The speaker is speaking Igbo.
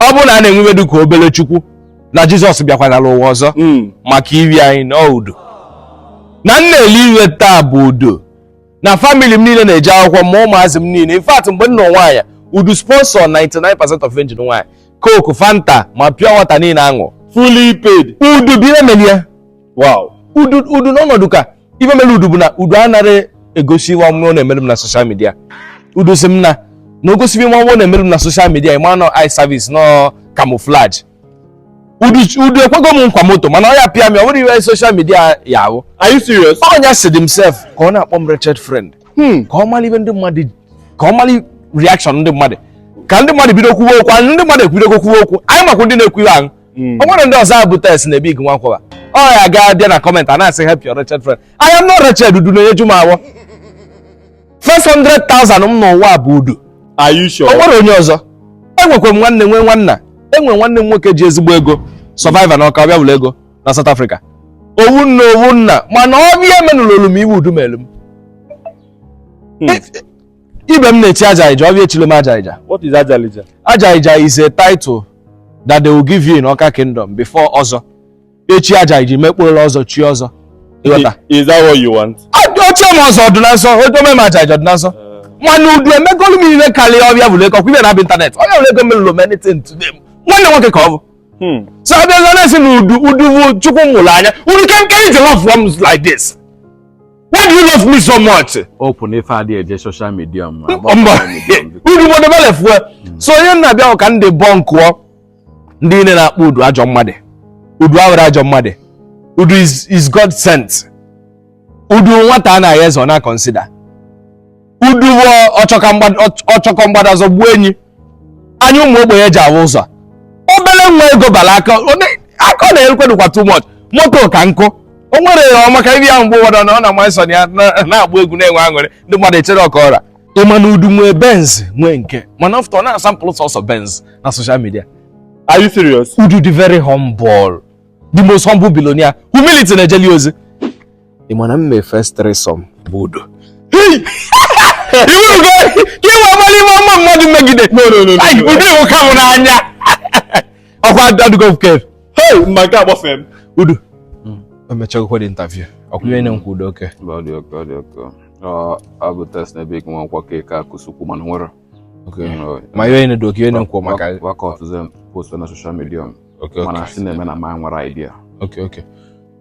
ọ bụrụ na a na-enwebedu ka obere chukwu na jizọs bịakwara n'ụwa ọzọ hmm. maka iri anyị na ọ udu na m na-eli ihe taa bụ udu na famili m niile na-eje akwụkwọ ma ụmụazị m niile in fact mgbe m na-anụ nwaanyị udu sponsọ 99% ife m ji nụ nwaanyị coke fanta ma pure water niile aṅụ fully paid udu bụ ihe mere ya udu n'ọnọdụ ka ife mere udu bụ na udu anara egosi ihe ọ na-emere m na soshal midia udu si m na na ọ gosi ihe ọ na-emere m na soshal midia ị ma na ọ eye service na ọ camouflage udu udu ekwego m nkwa moto mana ya pịa m ọ bụrụ ihe soshal midia ya ahụ Are you serious? ọ ya sị dị m sef ka ọ na-akpọ m wretched friend Hmm. ka ọ mara ihe ndị mmadụ ka ọ mara reaction ndị mmadụ ka ndị mmadụ bido kwuwe okwu anyị ndị mmadụ ebidogo kwuwe okwu anyị makwa ndị na-ekwu ihe ahụ hmm. o nwere ndị ọzọ abụ test na ebig nwakwara ọ ya gaa bịa na kọmentị a na-asị help your wretched friend I am not wretched udu na-enyeju m afọ 500,000 m n'ụwa bụ udu o nwerọ onye ọzọ enwekwa m nwanne nwee nwanna enwe nwanne m nwoke ji ezigbo ego sọvaiva na ọka ọbịa bulu ego na South Africa ofu nne ofu nna mana ọbịa emenurọlụ m ihe udu melụ m hmm. Ibe m na-echi Ajaghịja, ọbịa echirọ m Ajaghịja. What is Ajaghịja? Ajaghịja is a title that they will give you in Ọka Kingdom before Ọzọ. Echi Ajaghịja, mekpụrụla Ọzọ, chi Ọzọ. Ịghọta? I- Is that what you want? O chie m Ọzọ ọdụ na nsọ, o chie m Ajaghịja ọdụ na nsọ. Mana udu emegolu m ihe karịa ọbịa bulu ego, kwụbịa na abịa ịntanetị. Onye bụrụ ego melụrụ m anything today. Nwanne nwoke ka ọ bụ. Hmm. So abịa zọ na-esi na udu udu bụ Chukwu m mụrụ anya. Udu kee ihe i ji love m like this. Why do you love me so much? Open oh, if I did a social media. Udu want to left well? Hmm. So you know how can they bunk up? Ndị niile na-akpọ udu ajọ mmadụ. Udu abụrọ ajọ mmadụ. Udu is is God sent. Udu nwata anaghị eze ọ na-consider. udu bụ ọchọkọ mgbada zọgbuo enyi anya ụmụ ogbenye ji ahụ ụzọ obere nwa ego bara aka aka ọ na-erekwadukwa too much moto ka nkụ o nwere ya ọma ka ibi ya mgbe ụfọdụ na ọ na-ama nsọ ya na-agba egwu na-enwe aṅụrị ndị mmadụ echee ọ ka ọ ra ị ma na udu nwee benz nwee nke mana ọ fụta ọ na-asampụl sọsọ benz na soshal midia are you serious udu dị very humble the most humble billionaire humility na-ejeli ozi ị ma na m mee first threesome bụ udu udu emechagokwa dị interview ọkwụnye onye nkwa udu oke ọ bụ test na ebe ike nwa nkwakọ ike akụsukwu mana nwere ma ihe onye doki onye nkwa maka wakọtụzi post na soshal midia mana si na-eme na ma nwere idea okay okay